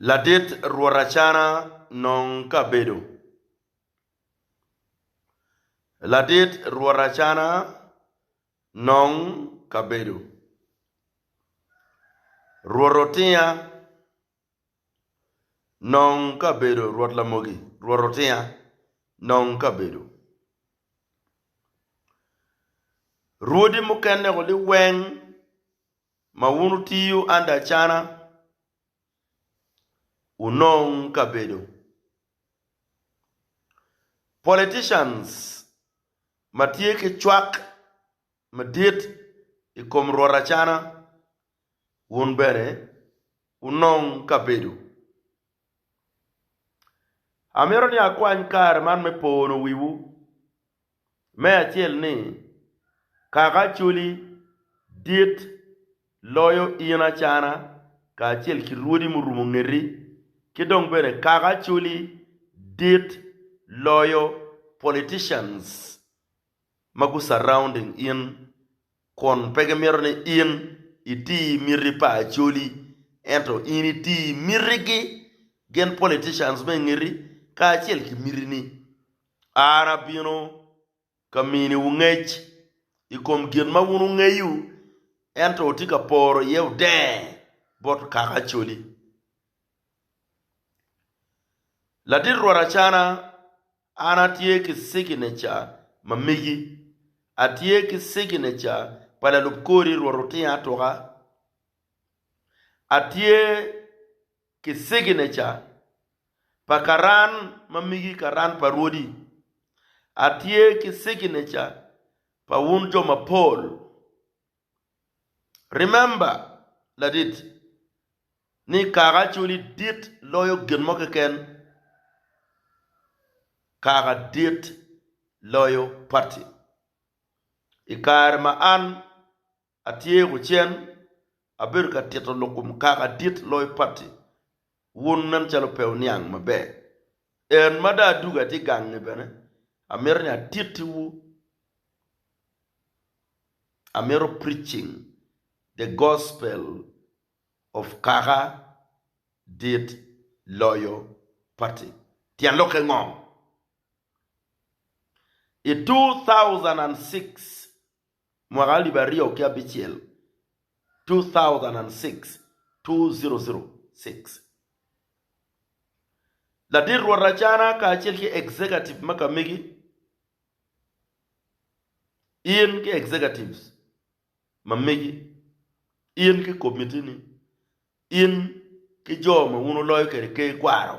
Ladit Rwot Acana nong ka bedo. Ladit Rwot Acana nong ka bedo. Rwot Otinga nong ka bedo Rwot Lamogi, Rwot Otinga nong ka bedo. Rwodi mukene-gu liweng Ma wun wutiyo under acana, wunong kabedo. Politicians ma tye ki cwak madit i kom rwot acana, wun bene wunong kabedo. Amito ni akwany kare man me pono wiwu. Me acel ni, Kaka Acholi dit loyo in Acana kacel ki rwodi murumo ngeti, ki dong bene Kaka Acholi dit loyo politicians ma gu surrounding in kun pe gimito ni in iti miti pa Acholi ento in iti mitigi gin politicians me ingeti kacel ki mitini. An abino ka miniwu ngec i kom gin ma wun wungeyo, ento wutye ka poro iye odenge bot kaka Acholi. Ladit rwot Acana, an atye ki cigineca ma megi, atye ki cigineca pa lalub kori rwot Otingo Atuka, atye ki cigineca pa karan ma migi karan pa rwodi, atye ki cigineca pa wun jo mapol. Remember ladit ni kaka acoli dit loyo gin mo keken, kaka dit loyo party. I kare ma an Atye kucen, abedo ka tito lok kom kaka dit loyo patti wun nen calo pe wuniang maber. En ma dong adugo atye gange bene, amito ni atitti wu, amito preaching the gospel of kaka dit loyo patti. Tyen lokke ngo? I two thousand and six mwaka alip aryo ki abicel, 2006 2006 Ladit rwot Acana kacel ki executive ma ka megi In ki executives ma megi In ki komitini In ki jo ma wun wuloyo kwede ker kwaro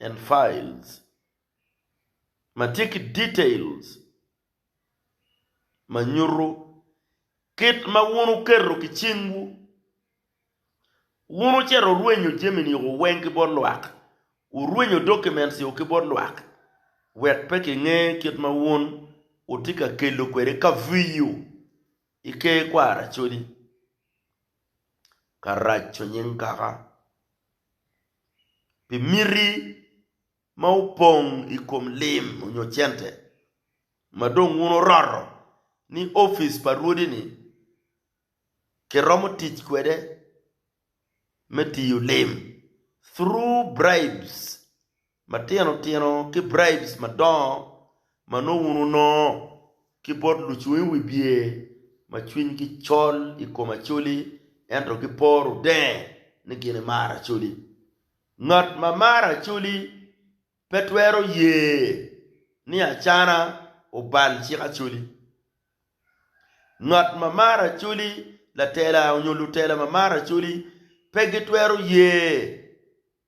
and Files ma tye ki details ma nyuto kit ma wun wuketo ki cingwu wun wucito wurwenyo jami-nigo weng ki bot lwak, wurwenyo documents-gu ki bot lwak wek pe kinge kit ma wun wutye ka kelo kwede kaviyo i Ker Kwaracodi. Karaco nying kaka. pi miti ma opong i kom lim nyo cente ma dong wun wuroto ni opic pa Rwodi-ni kiromo tic kwede me tiyo lim, through bribes. matino tino ki bribes madongo ma nongo wun wunongo ki bot lucung i wibye ma cwinygi col i kom Acholi ento giporo denge ni gin imaro Acholi. Ngat ma maro Acholi pe twero ye ni Acana obal cik Acholi. Ngat ma maro Acholi, latela onyo lutela ma maro Acholi pe gitwero ye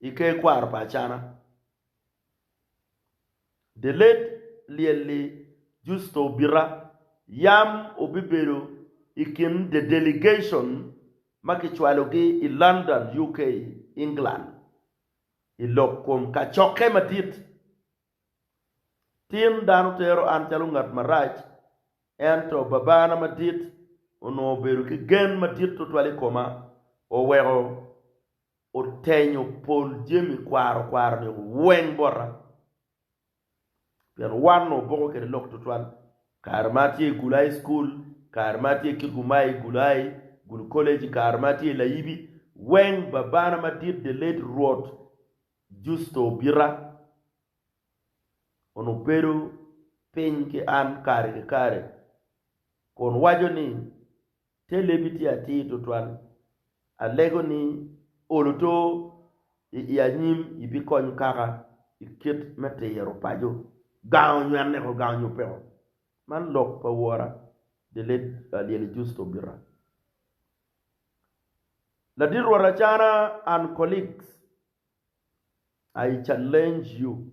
I ker kwaro pa Acana, The Late Lyelly Justo Obita, yam obibedo i kin the delegation ma kicwalogi i London, UK, England, i lok kom kacokke madit. Tin dano tero an calo ngat marac, ento Babana Madit onongo obedo ki gen madit tutwal i koma, oweko otenyo pol jami kwaro kwaro-ni weng bota, pien wan-nu opoko kwede lok tutwal. Kare ma atye i Gulu High School, kare ma atye i Kitgum High i Gulu High, Gulu College, kare ma atye i Layibi, weng babana madit the late Rwot Justo Obita onongo bedo piny ki an kare ki kare kun waco ni, Te lebi tye atir tutwal. Alego ni olo to i i anyim i bi konyo kaka i kit me tiro paco, gango onywene ko gango nyo peko. Man lok pa wora the late Alyeli Justo Birra. Ladit rwot Acana and colleagues, I challenge you.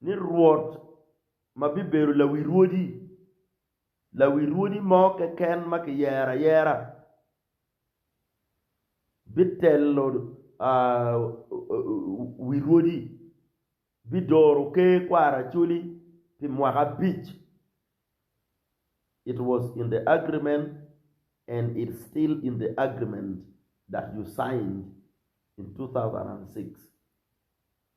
ni Rwot ma bibedo lawi rwodi, lawi rwodi mo keken ma kiyero ayera, bitelo wi rwodi, bidoro ker kwaro acoli pi mwaka abic. It was in the agreement and it's still in the agreement that you signed in two thousand and six.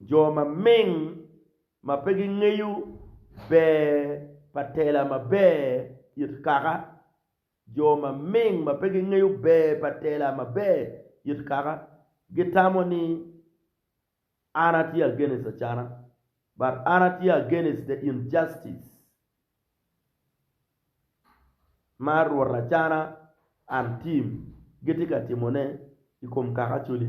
Jo maming ma pe gingeyo ber pa tela maber it kaka Jo maming ma pe gingeyo ber pa tela maber it kaka gitamo ni An atye against acana but an atye against the injustice ma rwot acana and team gitye ka timone i kom kaka Acholi.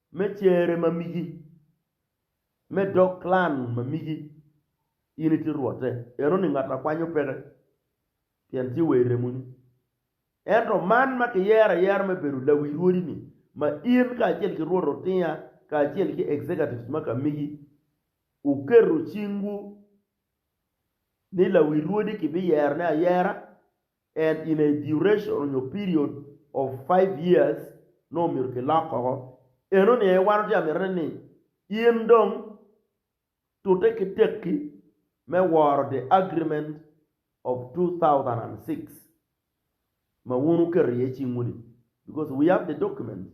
me cere ma migi, me dog klan ma migi, in itye rwotte. Enoni ngat a kwanyo peke, pien tye wa i remoni. Ento man ma kiyero ayera me bedo lawi rwodi-ni, ma in kacel ki rwot otinga kacel ki executives ma ka migi wuketo cingwu ni lawi rwodi kibiyerone ayera, and in a duration nyo period of five years nongo myero ki lok koko, eno ni aye wan watye ka mitone ni in dong tute ki tekki me woro the agreement of two thousand and six ma wun wuketo iye cingwu ni because we have the documents.